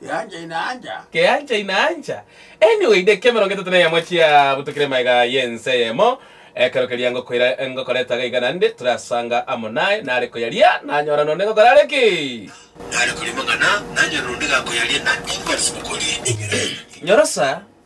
Keancha inaancha. Keancha inaancha. Anyway, dakika emerongo etato na eyemo chia butokire magega y'ense eyemo, ekero keria ngokoira ngokora etaga iga naende, torasanga amo naye, nare koyaria, nanyora nonde ngokora are ki? Nare korimang'ana, nanyora nonde gakoyaria, na inwe nase mokoria enyora y'amang'ana. Nyorosa.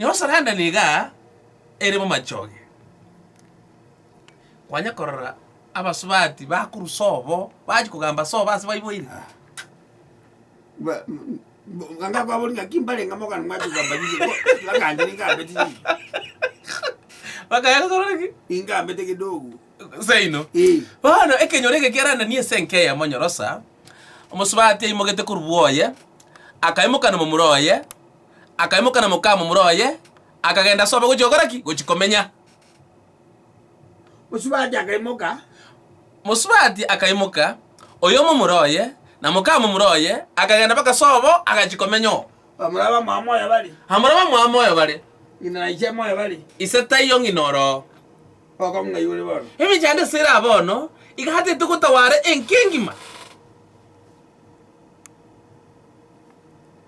Noro saranda niga ere momachoge, kwanya korora abasubati bakorusa obo, bachia kogamba ase obo ase baiboire. Ba- m- m- ganda kwabori naki mbarenge mogana mwachi kogamba riria bo, bagambire niga ambete chichi, Bakaya gokora ki? niga ambete kidogo. Seino. Eh. Bono ekenyoro eke kiarandani ase enka eyemo nyorosa, omosubati aimogete korwa bwoye, akaimoka nomomura oye, akaimoka na mokamomura oye, akagenda ase obo gochia gokora ki? Gochia komenya. Mosubati akaimoka. Mosubati akaimoka, oyomomura oye, na mokamomura oye, akagenda mpaka ase obo agachia komenya oo. Bamura bamwabo moyo bare. Bamura bamwabo moyo bare. Ng'ina na ise moyo bare. Ise taiyo ng'ina oroo. Bokong'u ng'ai bore bono? Emenyo yane ase ere abono, igatete gotawara enki engima.